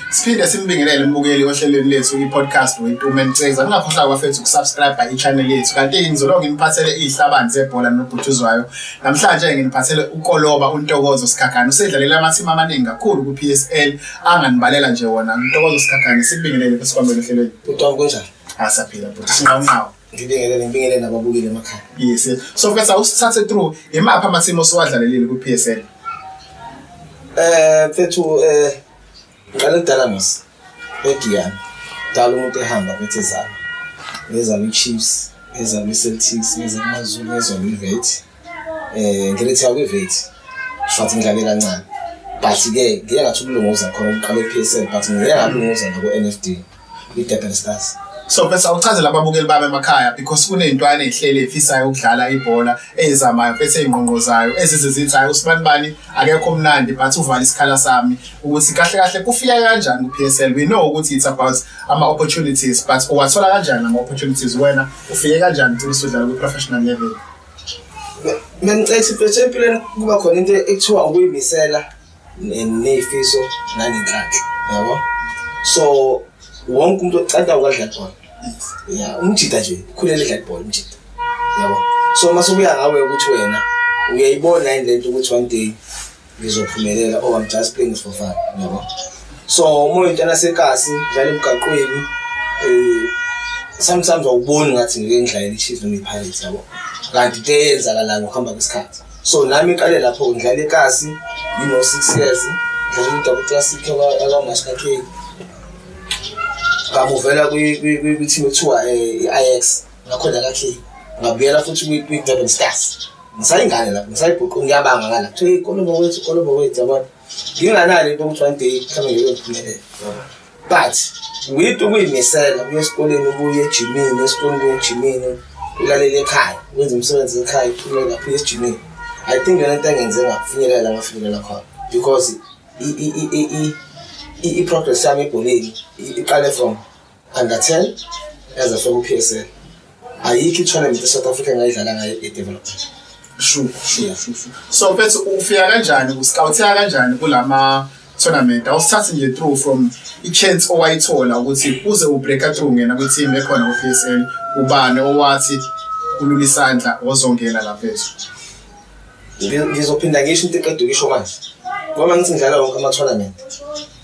siphinde simbingelele umbukeli ohlelweni lethu i-podcast wetume niceza ningakhohlwa kwafethu ukusubscribe i-channel yethu kanti-ke ngizolonge nginiphathele iy'hlabani zebhola nobhutshuzwayo namhlanje-ke nginiphathele ukoloba untokozo sikhakhane usedlalele amathimu amaningi kakhulu ku-p s l anganibalela nje wona untokozo sikhakhane simbingelele besikwambele ohlelweni utongo kunjani asaphila bhuti sinqawunqawo Ngibingelele ngibingelele nababukeli emakhaya. Yes. So mfethu awusithathe through imapha amathimo osiwadlalelile ku PSL. Eh mfethu eh ngiqale kudala nos. Ediyana. Dala umuntu ehamba bethi zama. Ngeza kwi Chiefs, ngeza kwi Celtics, ngeza kwi Mazulu, ngeza kwi Vets. eh ngiletha kwivethi shwathi ngidlale kancane but ke ngeke ngathi ukulunguza khona uqale PSL but ngeke ngalunguza nako NFD iDurban Stars so bese awuchazela ababukeli bami emakhaya because kuneyintwana ezihlele efisayo ukudlala ibhola ezamayo bese ingqongqozayo ezizizitha hayi usibani bani akekho omnandi but uvala isikhala sami ukuthi kahle kahle kufika kanjani kuPSL we know ukuthi it's about ama opportunities but uwathola kanjani ama opportunities wena ufike kanjani ukuthi usudlala ku professional level Bengicela ukuthi empilweni kuba khona into ekuthiwa ukuyimisela nefiso nanenhlanhla yabo so wonke umuntu ocanda ukudla ibhola ya umjita nje khulele idla ibhola umjita yabo so mase ubuya ngawe ukuthi wena uyayibona yini lento ukuthi one day ngizophumelela oh I'm just playing for fun yabo so uma uyintana sekasi dlala emgaqweni eh sometimes awuboni ngathi ngike ngidlala iChiefs noma iPirates yabo kanti into eyenzakalayo ngokuhamba kwesikhathi so nami iqale lapho ngidlala ekasi you know 6 years ngidlala uDouble Classic akaMashka K ngamuvela kwi-team ekuthiwa eh, i-IX ngakhona kahle ngabuyela futhi kwi-durban stars ngisayingane lapho ngisayibhuqu ngiyabanga ngala kuthiwa ikolomo wethu ikolomo wethu yabona nginganalo into ukuthi one day mhlawumbe ngiyophumelela but with ukuyimisela kuye esikoleni ubuye ejimini esikoleni kuye ejimini ulalele ekhaya wenza umsebenzi ekhaya uphumele lapho esijimini i think yona into engenze ngafinyelela ngafinyelela khona because i-progress yami ebholeni iqale from under 10 as a former PSL ayikho i-tournament e-south africa engayidlala ngayo i-development sure sure so mfethu ufika kanjani uscouteka kanjani kulama tournament awusithathi nje through from i-chance owayithola ukuthi uze ubreaka through ngena kwi-team ekhona ku-psl ubani owathi ulula isandla ozongena la mfethu ngizophinda ngisho into eqeda ukisho manje ngoba ngithi ngidlala wonke ama-tournament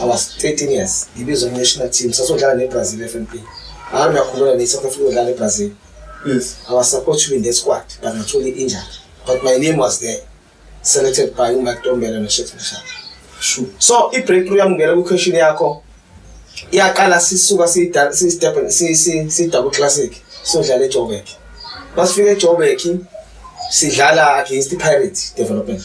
I was 13 years ngibizwa national team sasodlala neBrazil FNP hayi nakhulula ne South Africa odlala eBrazil yes I was supposed to be in the squad but ngathola injury but my name was there selected by uMike Tombela noSheikh Mashaka sure so i breakthrough yami ngena ku question yakho iyaqala sisuka si si step si si si double classic sodlala eJoburg masifika eJoburg sidlala against iPirates development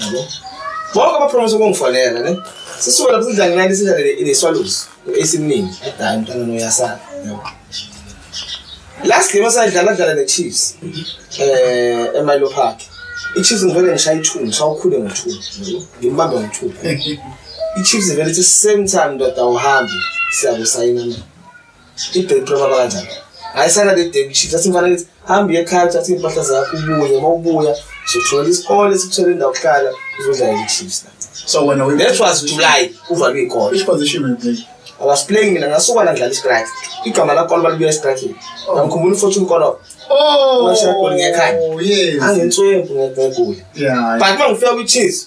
yabo bonke abapromisa ukungifonela ne sisuka lapho sidla ngenani sidlalele ineswalusi esiningi adala umntana noyasana yabo last game asadlala dlala ne-chiefs eh emilo park i-chiefs ngivele ngishaya i-two ngishawukhule ngo-two ngimbambe ngo-two i-chiefs ivele ithi same time ndoda awuhambi siyakusayina mina Ibheki prema kanjani? Hayi sana le day shift athi mfana kithi hamba uye ekhaya uthathe impahla zakho ubuye uma ubuya uzothola isikole sikuthole indawo kuhlala uzodlala i-chiefs la. So wena we That was July uvalwe ikole. which position were you playing? I was playing mina ngasuka la ngidlala istrike. Igama la kola balibuya estrike. Ngimkhumbula uFortune Kola. Oh, Washa goli ngekhaya. yes. Angentswempu ngegoli. Yeah. But uma ngifika kwi-Chiefs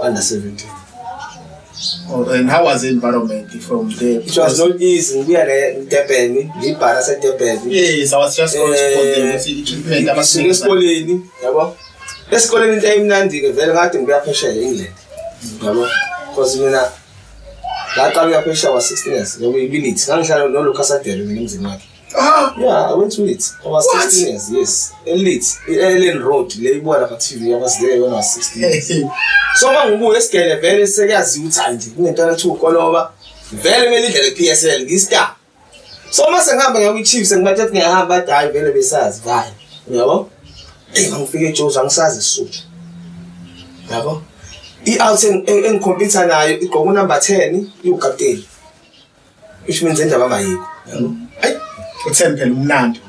under 17 Oh, and how was the environment from there? It was not easy. We are in Durban, we para sa Durban. Yes, I was just going to put them. Treatment, I was in esikoleni, yabo. Esikoleni into emnandi ke vele ngathi ngibuya phesheya eEngland. Yabo. Because mina ngaqala uyaphesheya wa 16 years, ngoba ibinithi. Ngangihlala noLucas Adele mina emzini wakhe. Ah, yeah, I went to it. I was What? 16 years, yes. Elite, Ellen Road, le ibuka lapha TV, I was there when I was 16 years. So uma ngibuya esigele vele sekuyaziwa ukuthi hayi nje kunento athi ukoloba. Vele kumele idlale PSL ngistar. So uma sengihamba ngiya kwiChiefs ngibathe ukuthi ngiyahamba athi hayi vele besazi vale. Uyabo? Eyi ngifike eJozi angisazi isizulu. Uyabo? I-out en- en- engikhompyutha nayo igqoka unumber 10 iwukapteni. Isho menze indaba angayikho. Hayi, uthembe phela umnandi.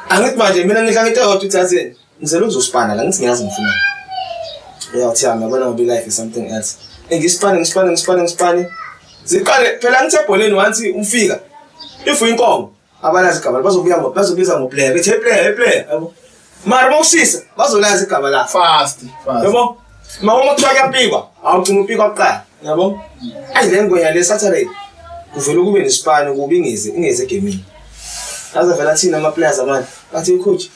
Angithi manje mina ngidla ngento yodwa uthi athi ngizela ukuzosipana la ngithi ngiyazi ngifuna. Uyathi yami yabona ngoba life is something else. Engisipane ngisipane ngisipane ngisipane. Ziqale phela ngithe ebholeni wanthi umfika. If uyinkomo abalazi igama bazobuya ngo bazobiza ngo player bethi hey player hey player yabo mara bawushisa bazolazi igama la fast fast yabo ma uma kuthiwa kuyapikwa awugcina upikwa kuqala yabo ayi le ngwenya le saturday kuvele kube nesipani kubi ingezi ingezi egemini aze vela thina ama players amanje bathi coach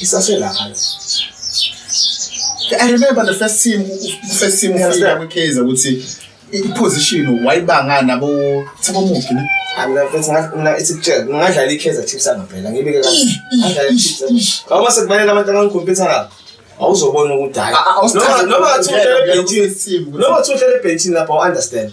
isaselapha I remember the first team first team ufika kwiKaizer ukuthi iposition wayibanga nabo Thabo Mugi ne ngingadlala i-kaizer chiefs angempela ngibike kauma sekubalele abantu angangikhompyutha ngabo awuzobona ukuthi hayi noma ngathiuhlele ebhentshini noma ngathiuhlele ebhentshini lapho u-understand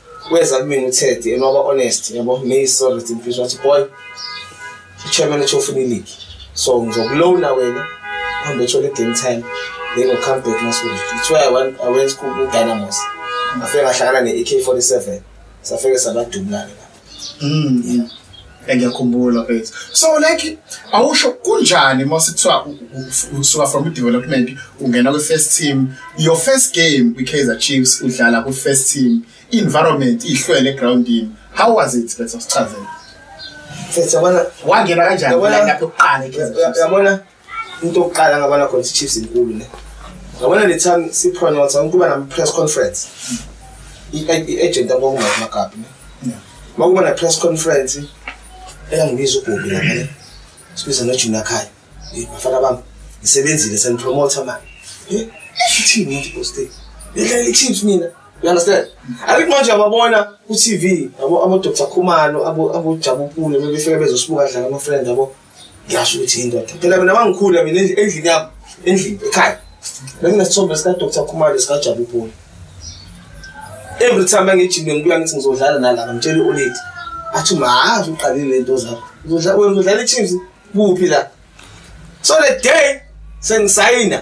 Weza kumina uTed and waba honest yabo me sorry ukuthi mfisha wathi boy chairman uthi ufuna ileague so ngizokulona wena uhambe uthole game time then u come back next week it's why I went I went ku Dynamos afike ngahlangana ne AK47 safike sabadubulana lapho mm yeah engiyakhumbula mfethu so like awusho kunjani mase kuthiwa usuka from development ungena kwi first team your first game kwi Kaizer Chiefs udlala ku first team environment ihlwele groundini how was it bese sichazela mfethu yabona wangena kanjani lapho kuqala yabona into yokuqala ngabona khona ukuthi Chiefs inkulu ne ngabona le time si pronounce ukuba nam press conference i-agent abokuma amagabi ne makuba na press conference eyangibiza ugobi lapha ne sibiza nojuna khaya bafana bami ngisebenzile senipromoter manje eh ithini into poste yedla le Chiefs mina you understand abik manje ababona ku TV abo abo Dr Khumalo abo abo Jabu Pule bebefika bezosibuka dlala ama friend abo Ngisho ukuthi indoda. Phela mina mangikhula mina endlini yami, endlini ekhaya. Benginesithombe sika Dr. Khumalo sika Jabu Poli. Every time ngijime ngibuya ngithi ngizodlala nalana ngitshela uLady. Athi mazi uqalile lento zakho. Uzodlala wena uzodlala iChiefs kuphi la? So the day sengisayina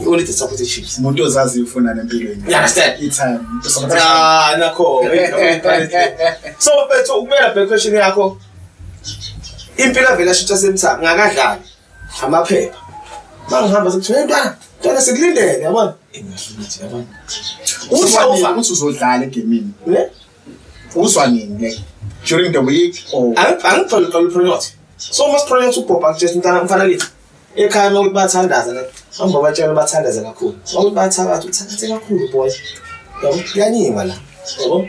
You only just support the Chiefs. Umuntu ozazi ufuna nempilweni. You understand? Itime. Ah, nakho. So mfethu ukumela back question yakho. Impilo vele ashutha semtha ngakadlali. Amaphepha. Bangihamba sokuthi hey ntwana, ntwana sikulindele yabona. Ingahlukuthi yabona. Uzwa ukuthi uzodlala egemini. Ne? Uzwa nini le? During the week or Angiphandle kalu project. So must project ubhobha just ntana mfana lethu. ekhaya uma ukuthi bathandaza hamba batshela bathandaze kakhulu uma ukuthi bathakatha uthathase kakhulu boy yabo kuyanyiwa la yabo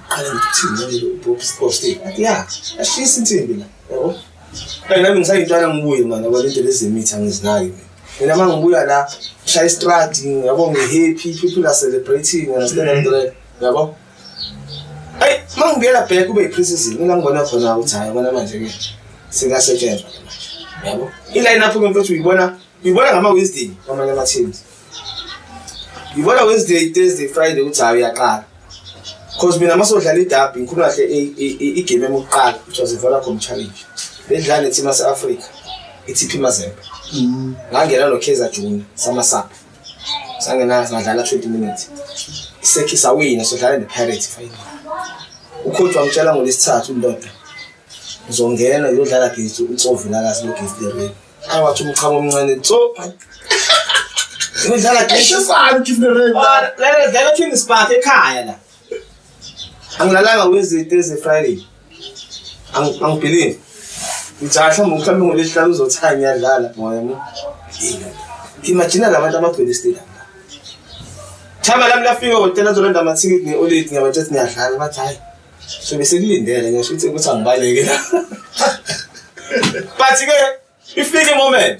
qala ngithini ubobusposti athi ya ashisa insimbi la yabo Hey nami ngisayintwana ngibuye manje ngoba into lezemithi angizinaki mina. Mina uma ngibuya la shaya istradi yabo ngihappy people are celebrating and stuff like that. Yabo? Ayi, mangibuyela back kube iprecision mina ngibona khona ukuthi hayi bona manje ke singasetshenzwa ke manje. Yabo? Iline up ngempela ukuthi uyibona uyibona ngama Wednesday kwamanye ama teams. Uyibona Wednesday, Thursday, Friday ukuthi hayi uyaqala. Cause mina masodlala idabi ngikhuluma kahle igame yokuqala ukuthi wazivola com challenge. Bedlala neThimase Africa. iTP Mazembe. Mm. Ngangena noKaizer Junior samasapha. sangenanga sadlala 20 minutes isekhi sawina sodlala nepirates final ukhotha wangitshela ngolesithathu indoda uzongena uyodlala gezi utsovu lakazi logift lereni awathi umchamo omncane tso uyodlala gezi eshisana ugift lereni lana lana dlala twin spark ekhaya la angilalanga wezinto eze-friday angibhilive ngijaa mhlawumbe mhlawumbe ngolesihlanu uzothaya ngiyadlala moya mo imagina la bantu abagcwele isitela thaba lami lafika hotela zolanda amathikithi ne-oledi ngiyabatshela ukuthi ngiyadlala bathi hhayi so besekulindele ngisho ukuthi ukuthi angibaleke la but-ke ifike imoment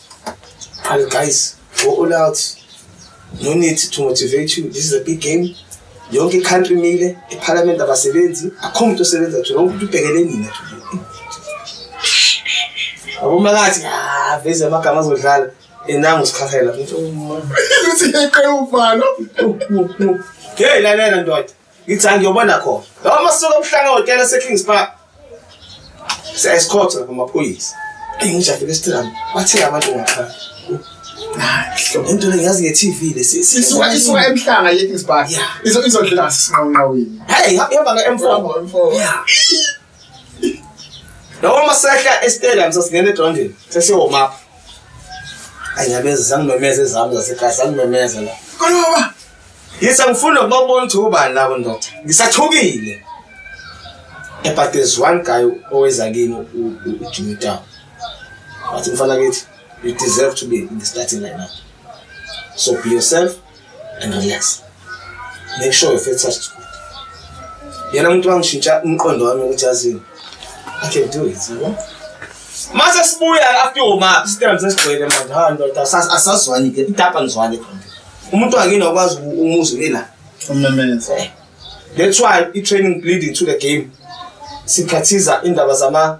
And guys, go all out. No need to motivate you. This is a big game. Yonke i-country mile, i-parliament abasebenzi, akho muntu osebenza thina, wonke umuntu ubhekele nina thina. Aboma kathi, ah, veze amagama azodlala. Enangu sikhakhela. Uthi yaqala uvala. Hey, lalela ndoda. ngithi angiyobona khona lawa masuku obuhlanga hotela esekings park siyayisikhotha amaphoyisa eyi ngisho afike esithilami bathile abantu ngaphandle into le ngiyazi nge-tv le isuka isuka emhlanga yekings park izodlela ngasesinqawunqawini heyi ihamba nge-m four Noma masehla estadium sasingena egroundini sesiyoma up. Anyabeza sangimemeza ezami zasekhaya sangimemeza la. Koloba. Yisa ngifuna ukubabona ukuthi ubani labo ndoda. Ngisathukile. Eh, but there's one guy oweza kimi uJimmy Town. Wathi mfana kithi you deserve to be in the starting lineup. So be yourself. and relax make sure you feel touched yena umuntu wangishintsha umqondo wami ukuthi yazini i can do it yabo mase sibuya after your map sitambe sesigcwele manje ha ndoda asazwani ke itapa ngizwani khona umuntu wakini wakwazi umuzwe mina umnamenzi eh. that's why i-training bleeding to the game sikhathiza indaba zama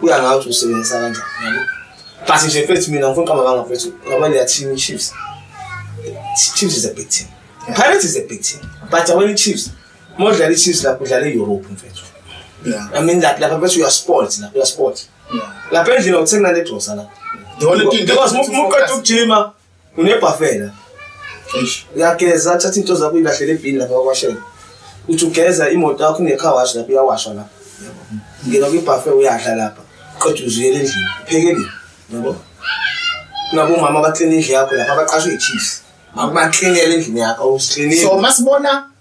kuya ngayo ukuthi usebenzisa kanjani yabo but nje mfethu mina ngifuna uqamba banga mfethu ngaba leya team chiefs chiefs is a big team pirates is a big team but awena chiefs modlala ichiefs lapho udlala e-europe mfethu i mean that lapha mfethu uyasport lapha uyasport lapha endlini awuthenga nalegrosa lapha because muqeda ukujima Unebhafela. Eish. Uyageza athatha into zakho uyilahlela ebhini lapha kwashela. Uthi ugeza imoto yakho ne car wash lapha uyawashwa lapha. Ngena kwi buffet uyadla lapha. Qeda uziyele endlini. Phekele. Yabo. Nabo mama ba clean indlu yakho lapha abaqashwe ichiefs. Akuba cleanele endlini yakho usiklinile. So masibona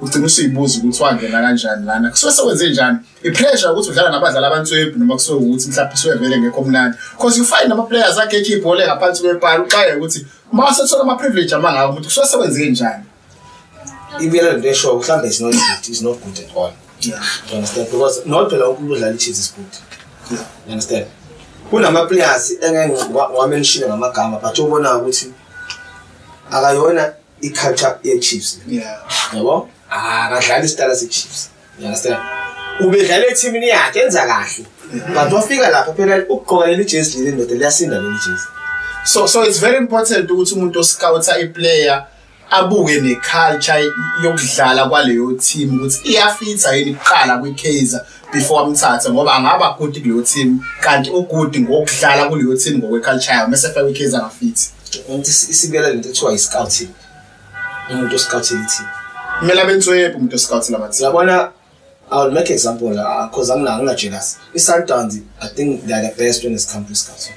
ugcina usuyibuza ukuthi wangena kanjani lana kusuke sewenze njani i-pressure ukuthi udlala nabadlali abantswebhu noma kusuke ukuthi mhlawumbe suke vele ngekho mnandi because you find ama-players ageje ibhola engaphansi kwepali uxaye ukuthi uma wasethola ama-privilege amangaka ukuthi kusuke sewenze njani ibuyela lento eshoyo mhlawumbe is not good is not good at all yeah. you understand because not phela wonke umuntu odlala i-chiefs is good yeah. you understand kunama-players engeke ngamenishile ngamagama but obonayo ukuthi akayona i-culture ye-chiefs yabo akadlali isitala se-chiefs you understand ubedlala ethimini yakhe enza kahle mm-hmm. but wafika lapha phela ukugqoka leli jezi leli ndoda liyasinda leli jezi so so it's very important ukuthi umuntu oscouta iplayer abuke neculture yokudlala kwaleyo team ukuthi iyafitha yini kuqala kwiKaizer before amthathe ngoba angaba good kuleyo team kanti ugood ngokudlala kuleyo team ngokweculture yayo mese fake ikhezi angafithi ukuthi isibiyela lento kuthiwa i-scouting umuntu oscoutile team kumele abenswebhu umuntu oscoutile abathi yabona I'll make example because I'm not, I'm not jealous. It's Sundowns. I think they're the best when it comes to scouting.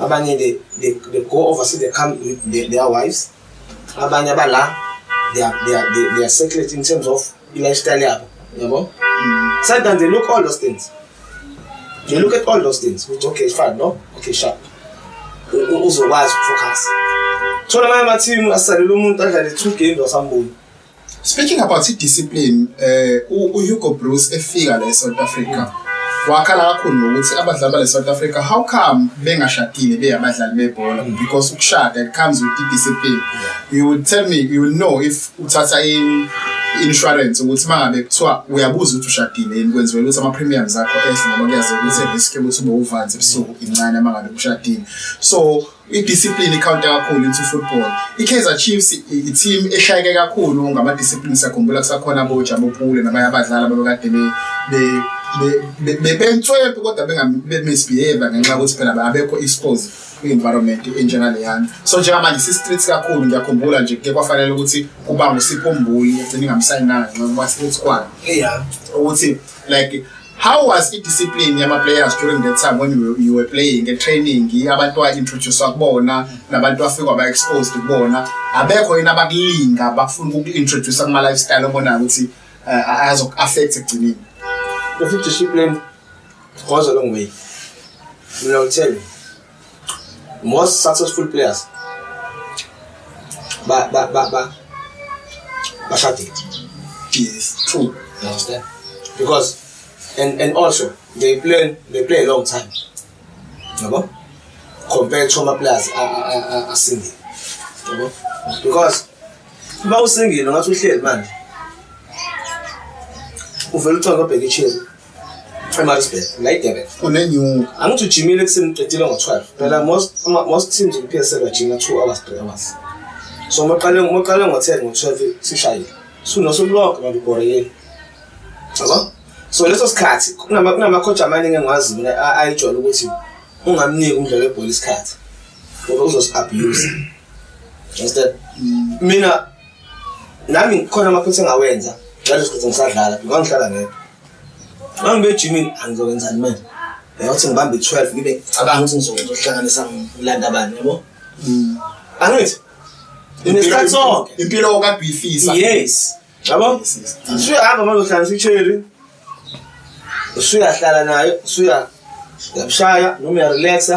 abanye they, they, they go overseas they come with their, their wives abanye abala they are, they are, they, they are secret in terms of i-lifestyle yabo yabo mm. sometimes they look all those things they look at all those things which okay fine no okay sharp uzokwazi ukufocus thola amanye amathimu asalele umuntu adlale two games wasambuyi Speaking about i-discipline, eh uHugo Broos efika la eSouth Africa. Wakhala kakhulu ngokuthi abadlali bale South Africa how come bengashadile beyabadlali bebhola mm. because ukushada it comes with i-discipline. You would tell me you will know if uthatha in insurance ukuthi mangabe kuthiwa uyabuza ukuthi ushadile yini kwenziwe ukuthi ama premiums akho ehle ngoba kuyazi ukuthi risk ukuthi ube uvanzi ebusuku incane mangabe ushadile. So Idiscipline ikhawunta kakhulu into football. I-Kaizer Chiefs i-team eshayeke kakhulu ngama-discipline sakhumbula kusakhona aboJabu Pule nabanye abadlali ababekade be bebenswebhu kodwa benga-misbehave ngenxa yokuthi phela abekho exposed kwi-environment enjengaleyana so njengamanje si-streets kakhulu ngiyakhumbula nje kuke kwafanele ukuthi kuba ngusipho mbuli egcine ingamsayinanga ngenxa yokuba street squad ukuthi like how was i discipline yama players during that time when you, you were playing nge training abantu wa introduce kubona nabantu afika ba exposed kubona abekho yena abakulinga bafuna uku introduce kuma lifestyle obona ukuthi uh, azo affect ekugcineni if discipline goes a long way mina ngithele Most successful players ba ba ba ba bashadile. Yes, true. You understand? Because and and also they play they play a long time. Yabo? Compared to ama players a a a a single. Yabo? Because uma usingile ngathi uhleli manje uvela uthonga obheke ichili eMaritzburg la eDurban kunenyuka angithi ujimile ekuseni uqedile ngo-12 phela most most teams ku-PSL bajima 2 hours 3 hours so moqale moqale ngo-10 ngo-12 sishayile sunosuku lonke manje ubhoreyeni yabo so leso sikhathi kunamacoach amaningi engiwazi mina ayijwayele ukuthi ungamniki umdlalo webhola isikhathi ngoba uzosi-abuse instead mm. mina nami khona amaphutha engawenza ngaleso sikhathi ngisadlala ngoba ngihlala ngedwa uma ngibe ejimini angizokwenzani manje yakuthi ngibambe i-twelve ngibe cabanga ukuthi ngizohlanganisa ngilanda abani yabo mm. angithi inesikhathi sonke impilo okabhifisa yes yabo usuyahamba manje uhlanganisa i-cherry usuyahlala nayo usuya uyamshaya noma uyarelaxa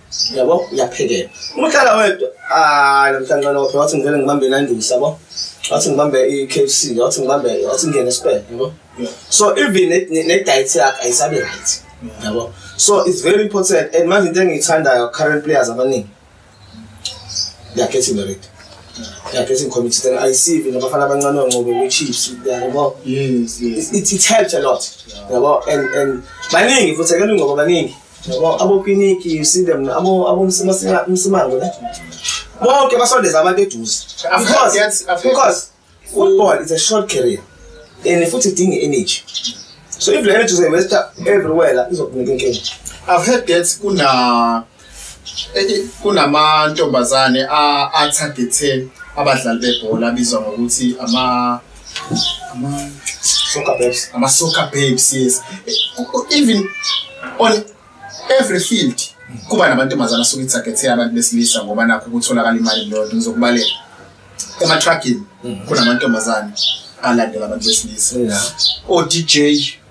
yabo uyaphekela uma uhlala wedwa ah namhlanje nophe wathi ngivele ngibambe nandusa yabo wathi ngibambe i-KFC wathi ngibambe wathi ngene esibhedlela yabo so even ne-diet yakhe ayisabe right yabo so it's very important and manje into engiyithandayo current players abaningi they are getting married they are getting committed and i see even abafana abancane oncobe kwi-chiefs yabo yes yes it, it helped a lot yabo and and baningi futhi akelungoba baningi abokiniki you see them abomsimango ne bonke basondeza abantu eduze because football is a short career and futhi idinga energy so if le energy uzoyivesta everywhere la izokunika inkinga i've heard that kuna eh, kunamantombazane a-targethe abadlali bebhola abizwa ngokuthi ama Ama soccer babes. Ama soccer babes, yes. Even on every field kuba nabantu emazana suke ithagethe abantu besilisa ngoba nakho kutholakala imali lodwa ngizokubalela. Ema trucking mhm. kunamantombazane alandela abantu besilisa. O DJ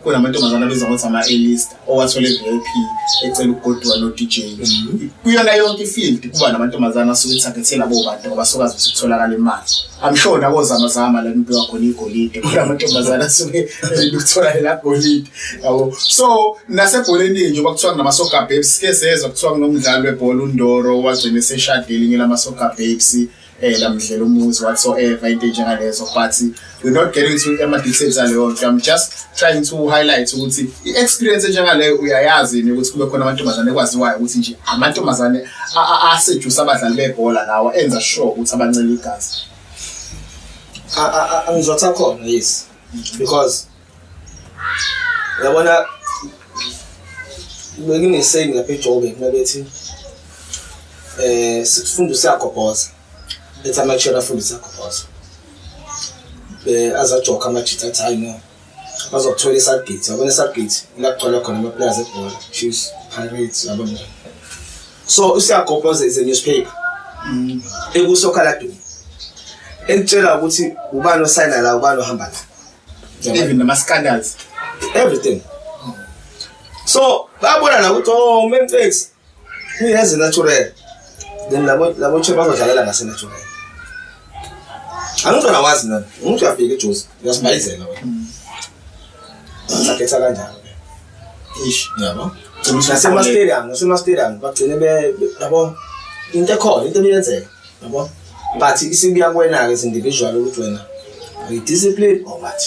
kunamantombazane abizwa ngokuthi ama-alist owathole i-vip ecela ukugoduka no-dj mhm. kuyona yonke ifield kuba namantombazane asuke ethagethe labo bantu ngoba sokwazi ukuthi kutholakala imali i'm sure nakozamazama la kubiwa khona igolide kunamantombazane asuke elukuthola elagolide yabo so nasebholeni njengoba kuthiwa kunamasoga babes ke sezwa kuthiwa kunomdlali webhola undoro wagcina eseshadile ngelamasoga babes phela eh, mdlela umuzi whatsoever into enjengalezo but we're not getting to ama-details aleyo nto i'm just trying to highlight ukuthi i-experience enjengaleyo uyayazi yini ukuthi kube khona amantombazane ekwaziwayo ukuthi nje amantombazane asejusa abadlali bebhola lawa enza sure ukuthi abancela igazi angizothi akhona yes because Uyabona bekunesaying lapha eJobe mina bethi eh sifunda siyagobhoza ethi amathishela afunda siyagobhoza eh azajoka amajita athi hayi no bazokuthola isagate yabona isagate ilakugcwala khona amapulazi ebhola chiefs pirates yabona so usiyagobhoza is a newspaper mm. ekusokhala dumo ekutshela ukuthi ubani osayina la ubani ohamba la even nama scandals everything so babona la ukuthi oh uMentex uyazi natural then labo labo che bazodlalela ngase natural angizona wazi nami umuntu uyafika ejuzi uyasibayizela wena mm. sakhetha kanjalo ish yabo nasema stadium nasema stadium bagcine be yabo into ekhona into ebiyenzeka yabo but isibuya kuwena-ke as individual ukuthi wena uyi-discipline or what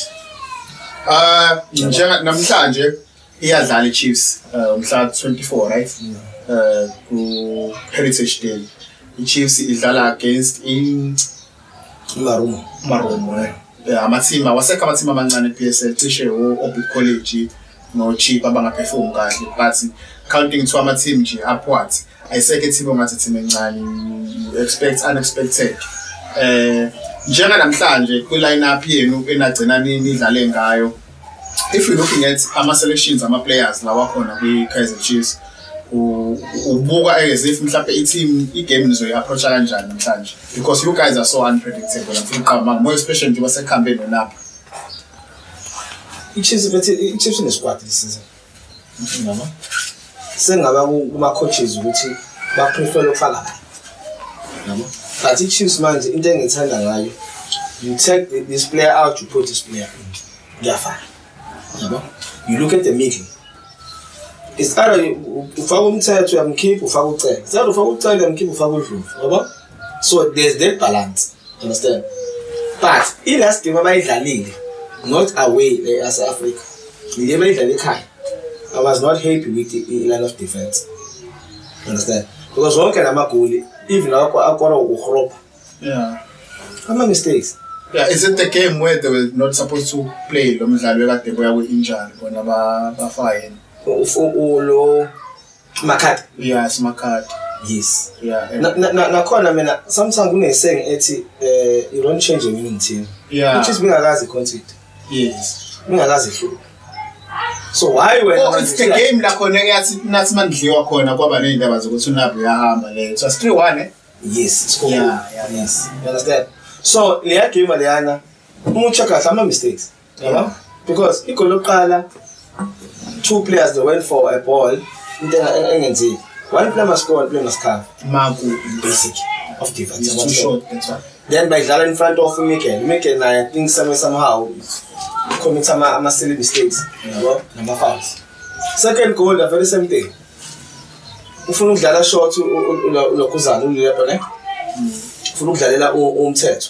um njenga namhlanje iyadlala i-chiefs eh, umhla 24 right um ku-heritage day i-chiefs idlala against in marumo marumo Eh, amathimba awasekho amathimba amancane e-PSL cishe o-Orbit College no-Chip abangaperform kahle but counting to ama-team nje upward ayisekho i-team ongathi team encane you expect unexpected eh njenganamhlanje kwi-line up yenu enagcina nidlale ngayo if you looking at ama selections ama players lawa khona kwi Kaizer Chiefs ubuka as if mhlawumbe i-team i-game nizoyi-approacha kanjani namhlanje because you guys are so unpredictable ngifuna uqamba more especially njengoba sekuhambe nolapha i-chiefs inesquad this season Mama. Sengaba kuma coaches ukuthi ba prefer ukufaka la. Yabo. But i Chiefs manje into engithanda ngayo you take the, this player out you put this player in. Ngiyafana. Yabo. You look at the middle. It's either ufaka umthetho uyamkhipha ufaka ucele. Sekuthi ufaka ucele uyamkhipha ufaka udlovu. Yabo. so there's that balance understand but i-last game abayidlalile not away e-asa africa le bayidlala ekhaya i was not happy with i-line of defense understand because wonke la magoli even akora ukurobha yeah. ama-mistakes Yeah, is it the game where they were not supposed to play lo mdlalo ekade boya kwi-injury bona bafayeni lo Makhadi. Yeah, simakhadi. Yes. Yeah. Nakhona na, na, mina sometimes kuneseng ethi eh you don't change your meaning team. Yeah. Which is bengakazi content. Yes. Bengakazi hluka. So why when oh, it's the game la khona eyathi nathi mandliwa khona kwaba nezindaba zokuthi unabo uyahamba le. So 3-1 eh? Yes, it's cool. Yeah, yeah, yes. You understand? So leya game leyana umuntu check kahle ama mistakes. yabo because igoli lokuqala two players they went for a ball into engenzeki one player must score one player must cover maku basic of defense too short that's why then bayidlala in front of Miguel Miguel naye i think some somehow commit ama ama silly mistakes yabo nama fouls second goal the very same thing ufuna ukudlala short ulokhuzana ulilebho ne ufuna ukudlalela umthetho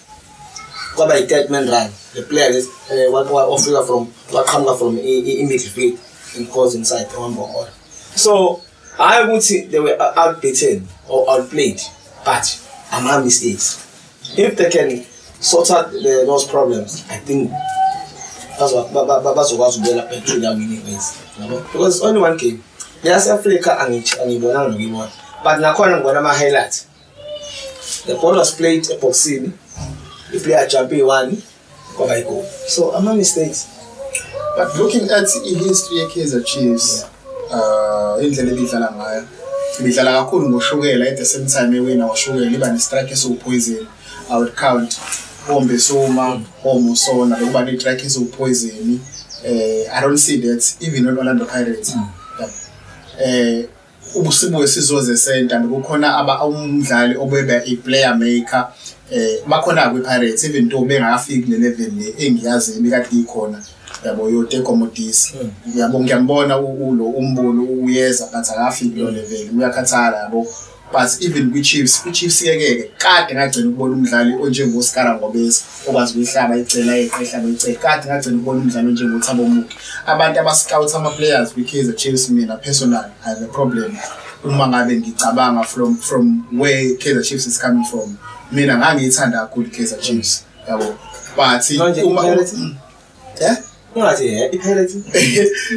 kwaba yi-third man run the player lesi um ofika from waqhamuka from i-midfield in cause inside owambokora so hhayi ukuthi they were outbeaten or outplayed but ama-mistakes if they can sort out the, those problems i think bazokwazi ukubuyela back to their winning ways yabo because it's only one game neyase-afrika angibonanga nokuyibona but nakhona ngibona ama-highlight the ball was played ebhoksini iplayer ajumpe iyi-one kwaba yigoli so ama-mistakes but looking at i-history ye-kaizer chiefs um indlela ebidlala ngayo ibidlala kakhulu ngoshukela at the same time ewina ngoshukela iba ne-strike esiwuphoyizini i would count ombesuma omusona lokuba ne-strike esiwuphoyizini um eh, i don't see that even on orlando pirates mm. um ubusibuke sizoze senta bekukhona umdlali obeba i-player maker eh bakhona kwi-pirates even though bengakafiki kule level le engiyazi ibikade ikhona yabo yoteko modisi hmm. yabo ngiyambona ulo umbulo uyeza but akafiki kulo hmm. level uyakhathala yabo but even kwi-chiefs kwi-chiefs yekeke kade ngagcina ukubona umdlali onjengoskara ngobesa okwazi ukuyihlaba icela yeqe ihlaba icela kade ngagcina ukubona umdlalo njengothabo muke abantu abascout ama-players kwi-kaizer chiefs mina personal i have a problem uma ngabe ngicabanga from from where kaizer chiefs is coming from mina ngangiyithanda kakhulu i-kaizer chiefs yabo but uma Eh? Ungathi happy pirates.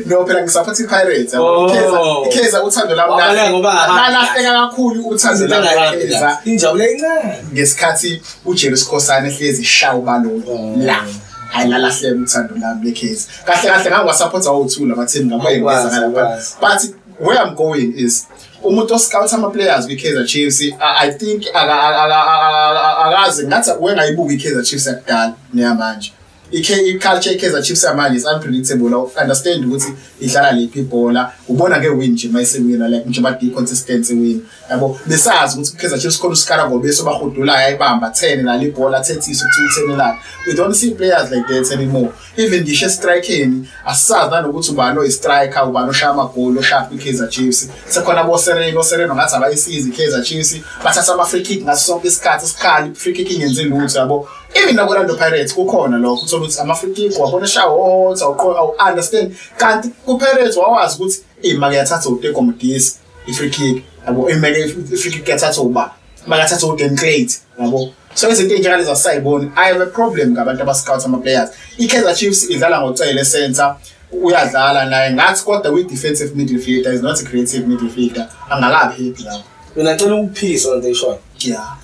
No phela ngisaphoth iPirates. Oh. Ikheza ikheza uthando lami. Wabala kahle. ngoba hamba. Lalahleka kakhulu uthando Izinto lami engahambi kakheza. kahle. Injabulo encane. ngesikhathi uJeru Sikhosana ehlezi shawa balolo la hayi lalahleka uthando lami lekhezi kahle kahle ngangwasapotha wothula bathini ngabo Ngakwazi, yenza ngala ngakwazi. but where i'm going is umuntu oscout ama players kwi Kaizer Chiefs I, i think aka- aka- aka- aka- akazi ngathi wengayibuki i Kaizer Chiefs yakudala neyamanje i-culture i-kaizer chiefs yamanje is unpredictable understand ukuthi idlala liphi ibhola ubona nge-win nje uma isiwina like nje badi-consistency win yabo besazi ukuthi ukaizer chiefs khona usikara ngobeso obahudulayo ayibamba athene nalo ibhola athethise ukuthi uthenelani we don't see players like that anymore even ngisho estrikeni asisazi nanokuthi ubani oyi-striker ubani oshaya amagoli oshaya kwi-kaizer chiefs sekhona abosereno osereno ngathi abayisizi i-kaizer chiefs bathatha ama-free kick ngaso sonke isikhathi isikhali i-free kick ingenzi lutho yabo even nakwi-orlando pirates kukhona lokho uthola ukuthi amafrikiki wabona eshahot awu-understand kanti kupirates wawazi ukuthi eyi make yathatha utekomodisi i-freekik yabo imeke i-freekik yathatha uba make yathatha udenclate yabo so izinto ey'njengale zasayiboni i have a problem ngabantu abascout ama-players i-kaizer chiefs idlala ngocele center uyadlala naye ngathi kodwa kwi-defensive middle fielder is not a creative middle fielder angakaphephi lapho mina cela ukuphikisa lento eyishoyo Yeah.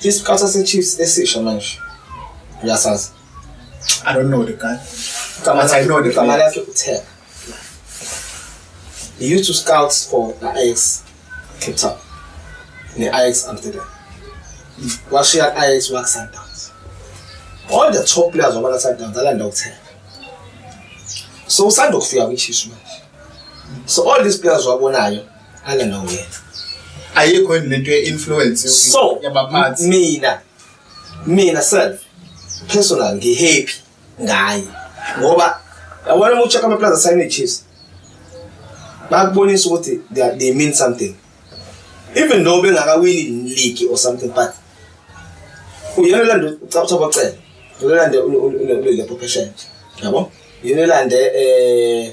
Isiqatha seChiefs esisha manje. Uyasazi. I don't know the guy. Kama I know the guy. Kama lakhe uTheka. He used to scout for the Ajax Cape Town. The Ajax Amsterdam. Washiya Ajax work Sundowns. All the top players wabala Sundowns alanda uTheka. So usanda ukufika kwiChiefs manje. So all these players wabonayo ala no wena ayikho yini lento ye-influence so yabaphathi mina mina self personal ngihappy ngaye ngoba yabona uma ucheck amaplaza sign chiefs bakubonisa ukuthi they mean something even though bengakawini league or something but uyena olanda ucabutha bocela uyena olanda ulelepho phesheya yabo uyena olanda eh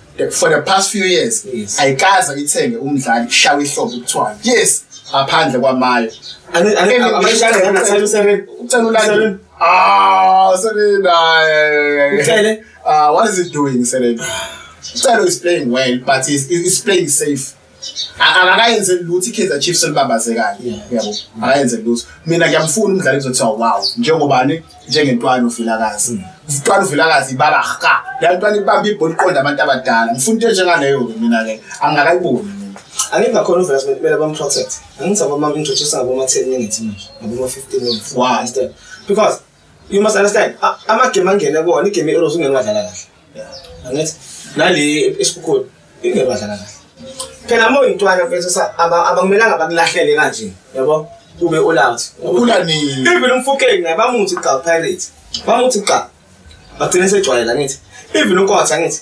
for the past few years yes. ayikaze ithenge umdlali kushawa ihlobo kuthiwa yes ngaphandle kwamayo ucelulani ah selina ucele ah what is it doing selina ucele is playing well but is is playing safe akayenze lutho i-kaizer chiefs elibabaze kanye yabo akayenze lutho mina ngiyamfuna umdlali kuzothiwa wow njengobani njengentwana uvilakazi mm. utwana uvilakazi ibaba ka la ntwana ibamba ibhola iqonda abantu abadala ngifuna into enjengaleyo-ke mina-ke angingakayiboni mina angeke ngakhona uvela sibe kumele bamprotect angithi abama-introduce ngaboma-ten minutes manje ngaboma-fifteen minutes why because You must understand. Ama game angene kona, igame iRose ungeke wadlala kahle. Angithi nale esikukhoda ingeke wadlala kahle. Phela uma uyintwana mfethu sa abakumelanga bakulahlele kanje. Yabo? Ube all out. Ukhula nini? Even umfukeni naye bamuthi cha Pirates. Bamuthi cha. Bagcine sejwayela ngithi. Even unkotha ngithi.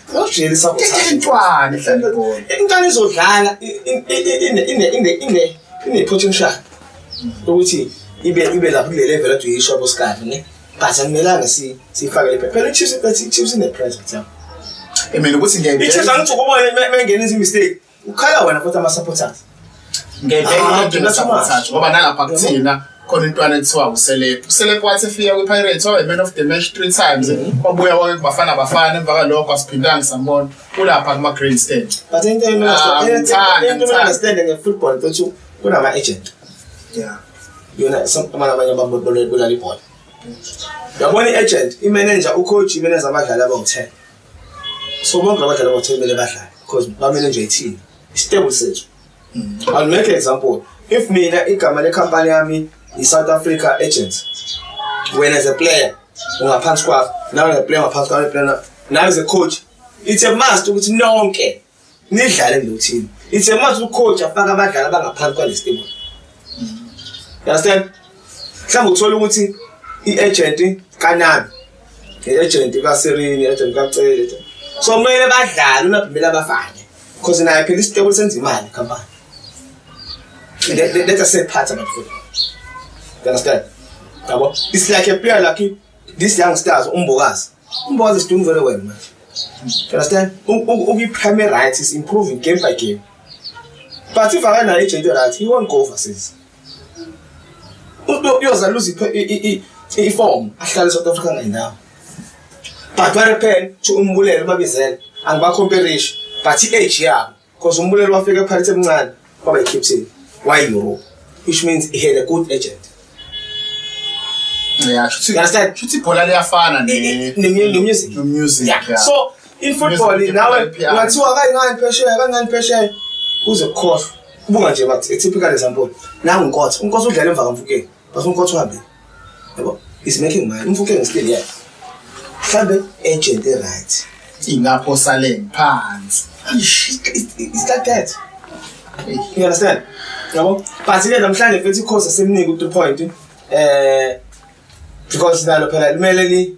Ujele sabotage. Intwana mhlawumbe. Intwana izodlala ine ine ine ine ine potential. Ukuthi ibe ibe lapho kule level athi uyisho bosikani ne. But angimelanga si sifake le phela chips but chips in the present. Emele ukuthi ngeke. Ichips angithi ukubona mengena izimistake. ukhala wena futhi ama-supporters ngebeamathathu ngoba nalapha kuthina khona intwana ekuthiwa uselep uselep wathi efika kwi-pirates wabe man of the match three times mhm. wabuya wake kubafana bafana emva kalokho asiphindanga sambona kulapha kuma-green stand but into engiunderstande ah, nge-football ukuthi kunama-agent yona amanye abanye ababolala ibhola yabona i-agent imenenja ucoach imenenza abadlali abawu-ten so bonke abadlali abathembele badlale because bamele nje ithini isitebo sethu mm. i'll make an example if mina igama lekhampani yami i-south africa agent wena as a player ungaphansi kwakho nawe as a player ungaphansi kwakho nawe as a coach it's a must ukuthi nonke nidlale nothini it's a must ucoach afaka abadlali abangaphansi kwalesi team understand mhlawumbe uthola ukuthi i-agent kanabi i-agent kaserini i-agent kacele so kumele badlale unabhimela abafane because naye phela isitebule senza imali company let us say part about football you understand yabo it's like a player like this young stars umbokazi Umboza sidungu very well manje. You understand? Uku prime right is improving game by game. But if akana agent right, he won't go overseas. Uyoza lose i i form ahlale South Africa ngendawo. But where pen to umbulele babizela angibakhomperishi but i-age yabo Because umbulelo wafika ePirates emncane waba yi-captain wayi-Europe which means he had a good agent. Yeah, shuthi You understand? shuthi ibhola liyafana ne Ne- ne- ne- ne- music. no music. Yeah. Yeah. So in football Music, nawe yeah, piano. ungathiwa kangani phesheya kangani phesheya uze kukhohlwa. Buka nje bathi a typical example. Nangu uNkotha. uNkotha udlala emva kamfukeni. bafuna ukuthi uhambe yabo is making money umfuke ngisilele yakhe mhlambe agent e right ingapho sale phansi it's like that you understand yabo but ke namhlanje futhi ikhosi semnike u point eh because nalo phela kumele ni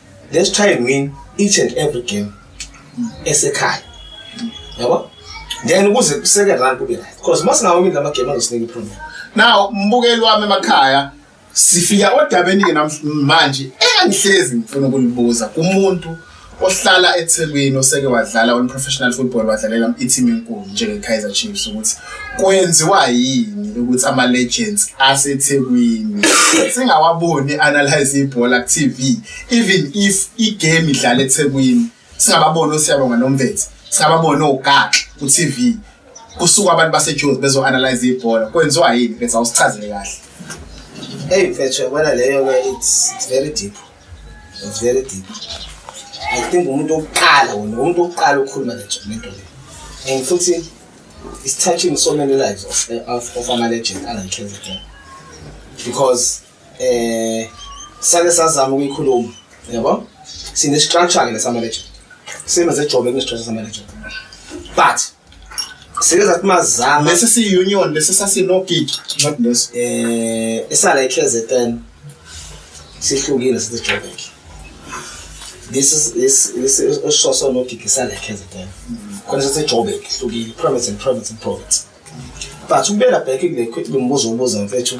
let's try and win each and every game esekhaya yabo then ukuze kuseke run kube right because uma singawini lama game angisinika iproblem now umbukeli wami emakhaya sifika odabeni ke namanje engihlezi ngifuna ukulibuza kumuntu ohlala eThekwini oseke wadlala on professional football wadlalela i-team enkulu njenge Kaizer Chiefs ukuthi kwenziwa yini ukuthi ama legends aseThekwini singawaboni analyze ibhola ku TV even if igame idlala eThekwini singababona osiyabonga nomvethe singababona ogaxa ku TV kusuka abantu baseJozi bezo analyze ibhola kwenziwa yini bese awusichazele kahle hey mfethu yabona leyo ke it's very deep it's very deep i think umuntu oqala wona umuntu oqala ukukhuluma le nto le and futhi It's touching so many lives of, eh, of, of ama legend ala KZN. Because eh sake sazama ukuyikhuluma, yabo? Sine structure ke lesama legend. Same as ejobe kune structure sama legend. But sike zathi mazama lesi si union lesi sasinogig not lesi eh esala iKZN sihlukile sithi Joburg this is this this is ososo nodidi salekhenze then khona sithi Joburg hlukile province and province and province but ukubeka back kule kwithi ngimbuzo ubuza mfethu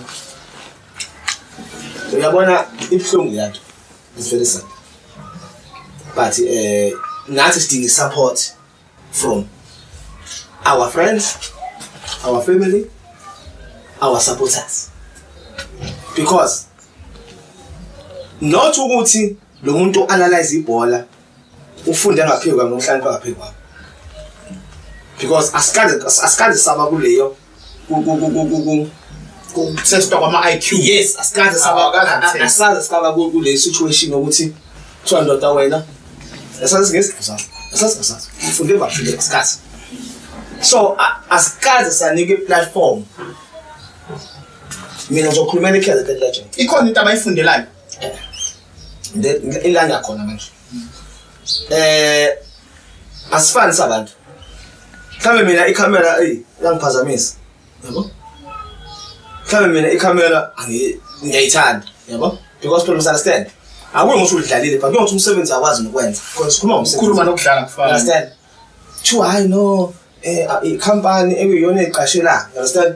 uyabona ibuhlungu yanto ivelisa but eh nathi sidinga support from our friends our family our supporters because not ukuthi lo muntu analyze ibhola ufunde ngaphezulu kwami uhlakanipha ngaphezulu kwami because asikade asikade saba kuleyo ukutesta kwama-iq yes asikaze asaze sikaba kule situation yokuthi kuthiwa ndoda wena asazi singesi asazi asazi ufunde bafunde asikaze so asikaze sanika i-platform mina ngizokhulumela i-kaizer legend ikhona into abayifundelayo eh. ila ngiyakhona manje eh asifani sabantu mhlawumbe mina ikhamera ey langiphazamisa yabo mhlawumbe mina ikhamera ngiyayithanda yabo because people misunderstand akuwe ngisho udlalile but kuyothi umsebenzi akwazi nokwenza because sikhuluma ngomsebenzi ukhuluma nokudlala kufana understand two hayi no eh company ekuyiyona eqashela understand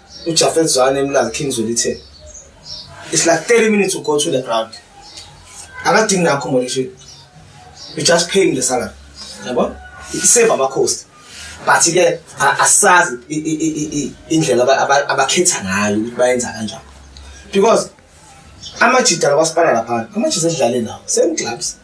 uJafet Zwane emlazi King Zwelithe it's like 30 minutes to go to the ground akadingi na accommodation you just pay him the salary yabo iseva amakhosi but ke asazi indlela abakhetha ngayo ukuthi bayenza kanjani because amajida lakwasipana lapha amajida edlale nawo same clubs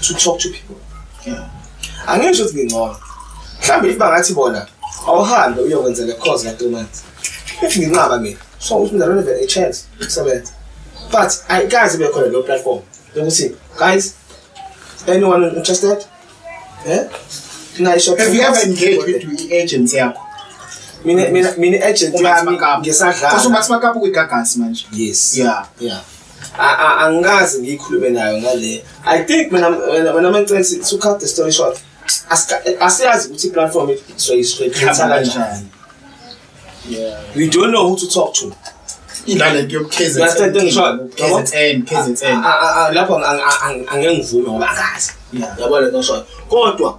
to talk to people yeah angisho ukuthi ngingcono mhlawumbe if bangathi bona awuhambe uyokwenza le course ka 3 months if nginqaba mina so uthi mina don't even a chance kusebenza but i guys be khona lo platform lokuthi guys anyone interested eh nayi shop if you have engaged with the agency yakho mina mina mina agent yami ngesadlala kusho mathi makapu kwigagas manje yes yeah yeah angikaze ngiyikhulume nayo ngale i think mina mina mangicela to cut the story short asiyazi ukuthi i-platform soyisithetha kanjani we don't know who to talk to inalento yokukhzlapho angeke ngivume ngoba akazi yabona noshoyo kodwa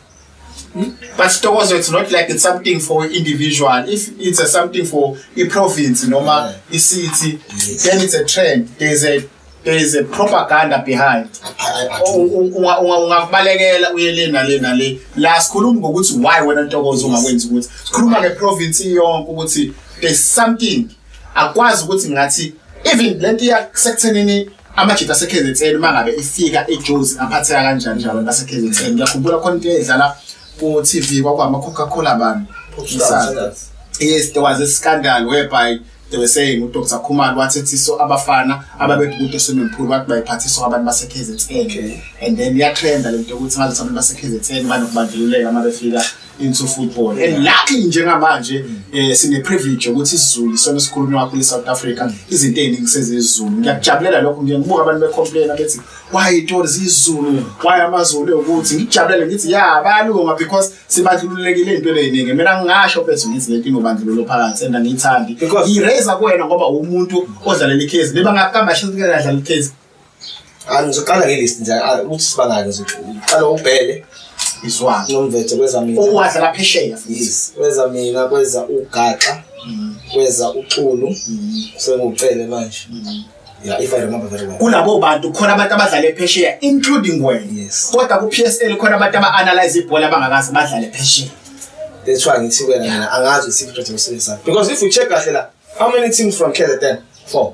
but sitokozo it's not like it's something for individual if it's a something for a province noma a city yes. then it's a trend there's a there is a propaganda behind ungakubalekela uye le nale nale la sikhuluma ngokuthi why wena ntokozo ungakwenzi ukuthi sikhuluma ngeprovince yonke ukuthi there's something akwazi ukuthi ngathi even lento yakuthenini amajita aseKZN uma ngabe ifika iJozi aphatheka kanjani nje abantu baseKZN ngiyakhumbula khona into edlala ku-TV kwakwama Coca-Cola bani yes there was a scandal whereby they were saying uDr Khumalo wathethiso abafana ababethi kude swimmingpool wathi bayiphathiswa abantu baseKZN and then iyatrenda lento ukuthi ngathi abantu baseKZN banokubandlululeka uma befika into football and eh, luckily njengamanje eh sine privilege ukuthi isiZulu isona esikhulunywa kakhulu eSouth Africa mm. izinto eziningi sezizulu ngiyakujabulela lokho ngiye ngibuka abantu becomplain abethi why itori zizulu mm. why amazulu ukuthi ngijabulele ngithi ya bayalunga because sibandlululekile into eziningi mina ngingasho bese ngithi lento inobandlululo phakathi and angiyithandi i raise kuwena ngoba umuntu odlalela ikhezi beba ngakamba shizikela dlala ikhezi angizoqala ngelist nje ah, ukuthi sibangaki nje uqala ubhele izwana nomvethe kweza mina ukwazi la phesheya yes kweza mina kweza ugaxa mm. kweza uxulu mm. sengucele manje mm. yeah if i remember very well kulabo bantu khona abantu abadlale phesheya including wena yes kodwa ku PSL khona abantu aba analyze ibhola abangakazi badlale phesheya that's why ngithi wena mina angazi ukuthi iproject yosebenzisa because if you check kahle la how many teams from KZN four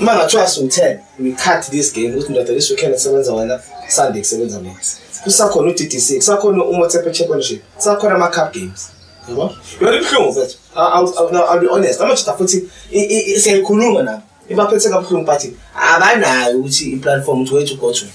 uma ngathiwa siwu-ten we cut this game ukuthi ndoda this weekend kusebenza wena sunday kusebenza mina kusakhona u-ddc kusakhona umotepe championship kusakhona ama-cup games yabo yona ibuhlungu mfethu i'll be honest amajita futhi siyayikhuluma nabo ibaphethe kabuhlungu but abanayo ukuthi i-platform ukuthi wethu ugodwe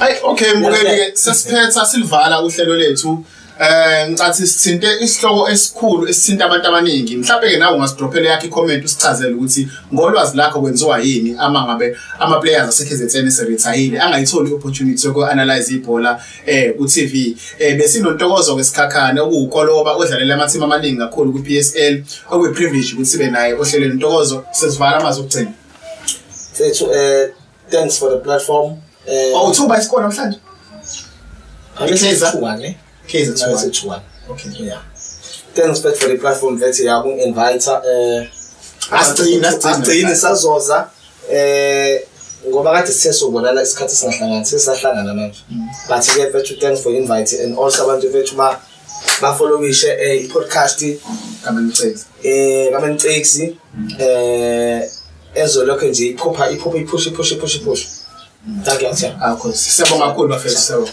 Ay okay mbukeli ke sesiphetha silivala uhlelo lethu Eh ngicathi sithinte isihloko esikhulu esithinta abantu abaningi. Mhlawumbe ke nawe ungasidrophela yakhe comment usichazele ukuthi ngolwazi lakho kwenziwa yini ama ngabe ama players aseKZN eseretire angayitholi opportunity yoku analyze ibhola eh ku TV. Eh besinontokozo kwesikhakhane okuwukoloba odlalela ama team amaningi kakhulu ku PSL okuyi privilege ukuthi sibe naye ohlelweni ntokozo sesivala amazwi okugcina. Sethu eh Thanks for the platform. Eh Oh, uthuba isikhona namhlanje. Akekhiza one. Khiza two one. Okay. Yeah. Thanks back for the platform vethi yaku invite eh asigcina asigcina sazoza eh ngoba kade sithe sobonana isikhathi singahlangani sesahlangana manje mm. but ke vethu thanks for invite and also abantu vethu ba bafollowishe eh, i-podcast kamenicix eh kamenicix eh ezolokho nje iphupha iphupha iphusha iphusha iphusha iphusha thank you sir akho ah, siyabonga kakhulu bafethu siyabonga